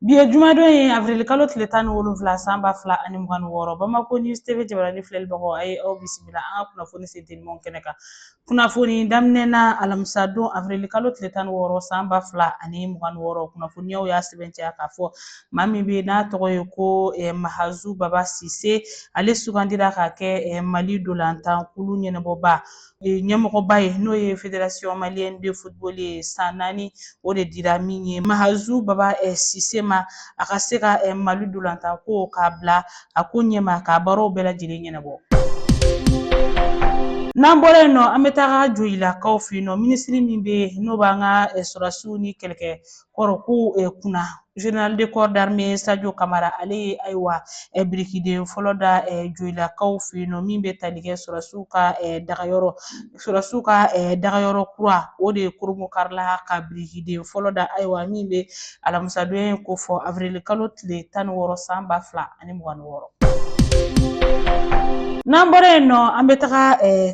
Bi ye jumadon ye avril kalo tile tan ni wolonwula san ba fila ani mugan ni wɔɔrɔ Bamako News TV jabarani filɛlibagaw a ye aw bisimila an ka kunnafoni sentelimanw kɛnɛ kan. Kunnafoni daminɛ na alamisa don avril kalo tile tan ni wɔɔrɔ san ba fila ani mugan ni wɔɔrɔ kunnafoniyaw y'a sɛbɛntiya k'a fɔ maa min bɛ n'a tɔgɔ ye ko eh, Mahazu Baba Sise ale sugandira ka kɛ eh, Mali dolantan kulu ɲɛnabɔba ɲɛmɔgɔba ye n'o ye fédération malienne de football ye san naani o de dira min ye mahazu baba eh, sise ma a ka se ka eh, mali dolantan ko k'a bila a ko ɲɛma k'a baaraw bɛɛ lajɛlen ɲɛnabɔ n'an bɔra yen nɔ an bɛ taga joyilakaw fɛ yen nɔ minisiri min bɛ yen n'o b'an ka eh, sɔrɔdasiw ni kɛlɛkɛ kɔrɔ ko kunna general de corps d'armée sadio kamara ale ye ayiwa eh, birikiden fɔlɔ da eh, joyilakaw fɛ yen nɔ min bɛ tali kɛ sɔrɔdasiw ka eh, dagayɔrɔ sɔrɔdasiw ka dagayɔrɔ kura o de kurunbonkarila ka birikiden fɔlɔ da ayiwa min bɛ alamisadon in kofɔ avrili kalo tile tan ni wɔɔrɔ san ba fila ani mugan ni wɔɔrɔ n'an bɔra yen nɔ an bɛ taga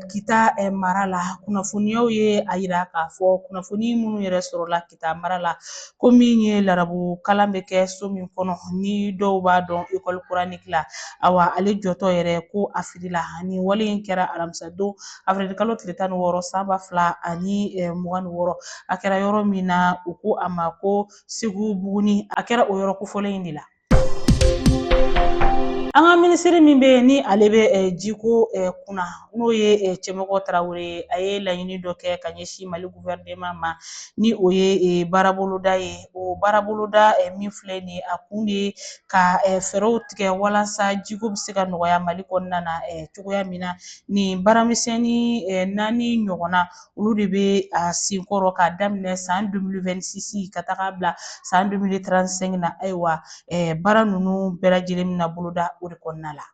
kita mara la kunnafoniyaw ye a yira k'a fɔ kunnafoni minnu yɛrɛ sɔrɔla kita mara la ko min ye larabu kalan bɛ kɛ so min kɔnɔ ni dɔw b'a dɔn ekɔli kuraniki la awa ale jɔtɔ yɛrɛ ko a firila ni wale in kɛra alamisa don afirili kalo tile tan ni wɔɔrɔ san ba fila ani eh, mugan ni wɔɔrɔ a kɛra yɔrɔ min na u ko a ma ko segubuguni a kɛra o yɔrɔ kofɔlen in de la An ka minisiri min bɛ yen ni ale bɛ eh, jiko eh, kunna n'o ye eh, Cɛmɔgɔ Tarawele ye a ye laɲini dɔ kɛ ka ɲɛsin Mali guvɛrɛnema ma ni o ye baaraboloda ye o baaraboloda min filɛ nin ye a kun de ye ka fɛɛrɛw tigɛ walasa jiko bɛ se ka nɔgɔya Mali kɔnɔna na cogoya min na nin baaramisɛnnin naani ɲɔgɔnna olu de bɛ a sen kɔrɔ k'a daminɛ san 2026 ka taga bila san 2035 na ayiwa eh, baara ninnu bɛɛ lajɛlen bɛna boloda o de kɔnɔna la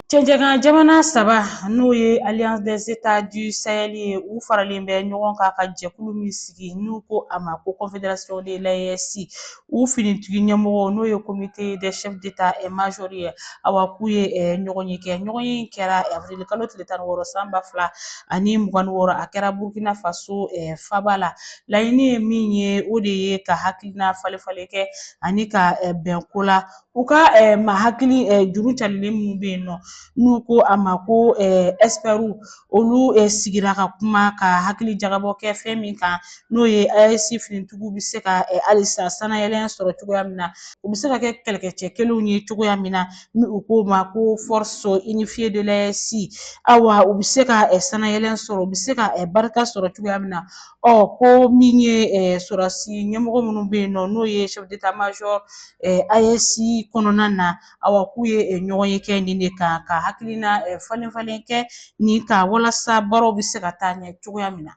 Cɛncɛnkan jamana saba n'o ye Alliance des États du Sahel ye u faralen bɛ ɲɔgɔn kan ka jɛkulu min sigi n'u ko a ma ko Confédération de l'AES u finitigi ɲɛmɔgɔ n'o ye comité des chefs d'état et major ye awa k'u ye eh, ɲɔgɔnye kɛ ɲɔgɔnye in kɛra eh, avril kalo tile tan ni wɔɔrɔ san ba fila ani mugan ni wɔɔrɔ a kɛra burkina faso eh, faba la laɲini ye min ye o de ye ka hakilina falenfalen kɛ ani ka bɛn ko la u ka eh, maa hakili eh, juru carilen minnu bɛ yen nɔ n'u ko a ma ko eh, ɛsipɛriw olu eh, sigira ka kuma ka hakili jagabɔ kɛ fɛn min kan n'o ye AES finitigiw bɛ se ka eh, halisa sanayɛlɛn sɔrɔ cogoya min na u bɛ se ka kɛ kɛlɛkɛcɛ kelenw ye cogoya min na ni u k'o ma ko force unifiée de l'AES awa u bɛ se ka eh, sanayɛlɛn sɔrɔ u bɛ se ka eh, barika sɔrɔ cogoya min na Ɔ ko min ye eh, sɔrɔdasi ɲɛmɔgɔ minnu bɛ yen nɔ n'o ye chef d'état major eh, AES kɔnɔna na awa k'u ye eh, ɲɔgɔn ye kɛ nin de kan ka hakilina eh, falen falen kɛ nin kan walasa baaraw bɛ se ka taa ɲɛ cogoya min na.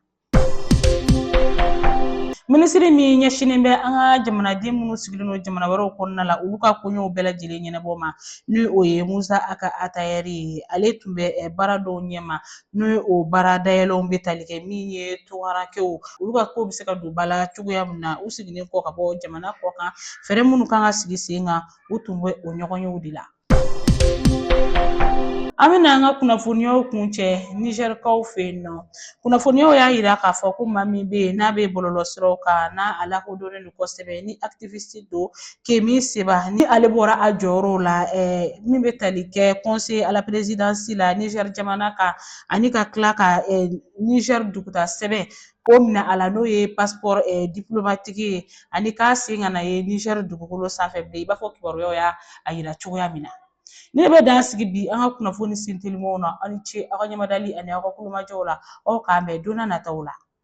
Minisiri min ɲɛsinnen bɛ an ka jamanaden minnu sigilen don jamana wɛrɛw kɔnɔna la olu ka koɲɛw bɛɛ lajɛlen ɲɛnabɔ ma ni o ye Musa Ag Attaher ye ale tun bɛ eh, baara dɔw ɲɛma n'o ye o baara dayɛlɛlenw bɛ tali kɛ min ye tungarankɛw olu ka ko bɛ se ka don ba la cogoya min na u seginnen kɔ ka bɔ jamana kɔkan fɛɛrɛ minnu kan ka sigi sen kan u tun bɛ o ɲɔgɔn yew de la an bɛna an ka kunnafoniyaw kuncɛ nizɛrikaw fɛ yen nɔ kunnafoniyaw y'a yira k'a fɔ ko maa min bɛ yen n'a bɛ bɔlɔlɔsiraw kan n'a lakodɔnnen don kosɛbɛ ni activiste don kemi seba ni ale bɔra a jɔyɔrɔw la eh, min bɛ tali kɛ conseil à la présidence la niger jamana kan ani ka tila ka eh, niger duguta sɛbɛn k'o minɛ a la n'o ye passeport eh, diplomatique ye ani k'a sen kana ye niger dugukolo sanfɛ bilen i b'a fɔ kibaruyaw y'a yira cogoya min na ne bɛ dan sigi bi an ka kunnafoni sintelimaw na aw ni ce aw ka ɲɛmadali ani aw ka tulomajɔw la aw k'an bɛn don nataw la